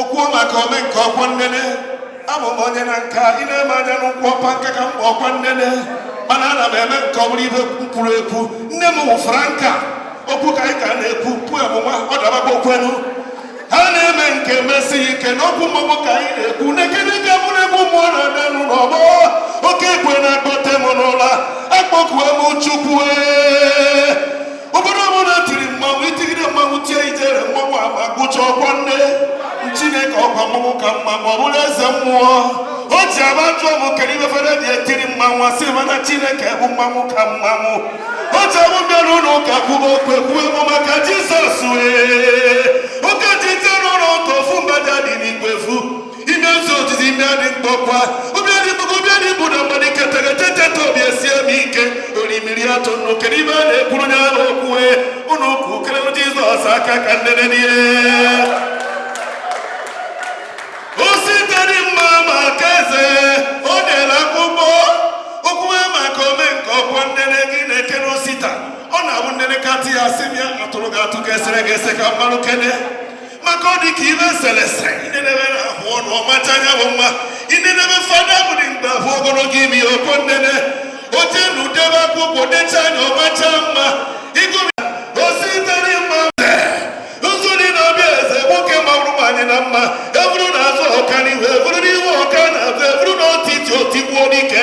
Okwuo maka omenka ọkwọ nnene abụ m onye nka ị na-eme anya n'ụkwụ ọkwa nka ka m bụ ọkwa nnene mana ana m eme nka ọ bụrụ ibe m kwuru ekwu nne m wụ franka okwu ka anyị ka na-ekwu pu amụma ọ dabakwa okwenu ha na-eme nke mesi ike n'okwu mmọgbụ ka anyị na-ekwu nekene ka bụrụ egwu mmụọ na-adanụ n'ọgbọ oke ekwe na-akpọte m n'ụla akpọkuo m chukwu obodo ọbụla tiri mmanwụ itigide mmanwụ tie ijere mmanwụ agba gụcha ọkwa nne chineke ọkwa mmanwụ ka mmanwụ ọ bụrụ eze mmụọ o ji aba jụọ m kedu ibe fada dị etiri mmanwụ asị m ya na chineke bụ mmanwụ ka mmanwụ o ji abụ bịara ụlọ ụka kwuba okwu kwuo ego maka jizọs wee ime ezi ozizi ime adị mkpọkwa obi adị mkpọkwa obi adị bụ na mmadụ ike tegeteteta obi esie m ike orimiri atụ nnụ kedu ibe a na-ekwuru onye ahụ okwuwe ụnụ ukwu kelelu jizọs aka ka nnene n'ihe osita dị mma maka eze o dere akwụkwọ okwuwe maka omenka ọkwọ nnene gịnị kere osita ọ na-abụ nnene katị ya sị m ya atụrụ gị atụ ka esere gị ese ka mmadụ kere maka ọ dị ka ibe e sele ese inenebe na ahụ ọnụ ọmacha anya bụ mma inenebe fada bụ dị mgbe abụ ogologo imi ọkwọ nnene oche na udebe akwụkwọ decha anya ọmacha mma ịgụrụ osita dị mma ụzụ dị na ọbịa eze nwoke mawụrụ m anyị na mma eburu na azụ ọka n'ihu eburu n'ihu ọka na azụ eburu na etiti otigbuo n'ike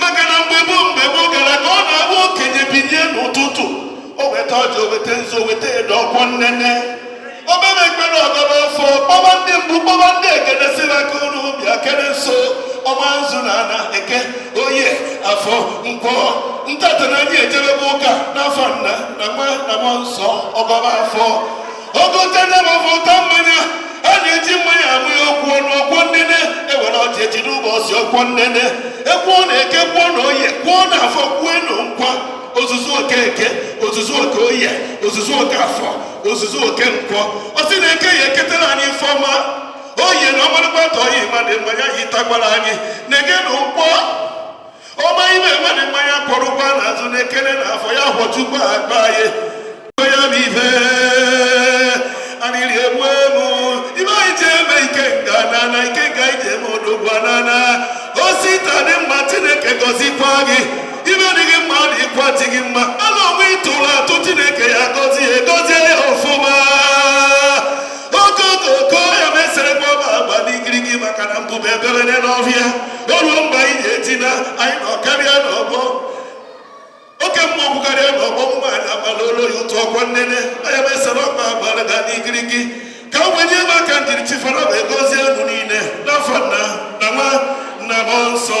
maka na mgbe gboo mgbe gboo gara aga ọ na-abụ okenye bilie n'ụtụtụ o weta ọjị oweta nzu oweta edo ọkwọ nnene o kpebe ekpere ọgọba ọfọ kpọwa ndị mbụ kpọwa ndị egede sị ha ka ụnụ bịa kere nzu ọma nzu na ana eke oye afọ nkwọ ntata na anyị ejebebe ụka n'afa nna na nwa na mmụọ nsọ ọgọba ọfọ ogote na mafọ ụta mmanya a na-eji mmanya amụ ya ọkwụ ọnụ ọkwọ nnene ewere ọjị eji n'ụbọchị ọkwọ nnene ekwuo na eke kwuo na oye kwuo na afọ kwuo na nkwọ ozuzu oke eke ozuzu oke oye ozuzu oke afọ ozuzu oke nkwọ ọ sị na eke ya eketara anyị ife ọma oye na ọmarịkpata oyi ma dị mma ya yitakwara anyị na-ege na nkwọ ọma ime ewere nwa ya kwọrọkwa n'azụ na-ekele na afọ ya fọjukwa akpa ya mgbe ya bụ ife arịrị egbu emu ime anyị ji eme ike nga nana ike ga ije eme odogwu nana osita dị mma chineke gọzikwa gị imi dị gị mma na ịkwa dị gị mma ala onwe ịtụrụ atụ chineke ya gọzie ya gọzie ya ọfụma okooko ya mesịrị gị ọba agba n'ikiriki maka na mbụba ebere n'ọhịa o ruo mgbe anyị ga-eti na anyị nọ karịa n'ọgbọ oke mma ọgwụ karịa n'ọgbọ ụmụ anyị agbala olu ya ụtụ ọkwọ nnene anya mesara ọkpa agbara ga n'igirigi ka m wenye m aka ndiri chifara ma egozie unu niile n'afa nna na nwa na mmụọ nsọ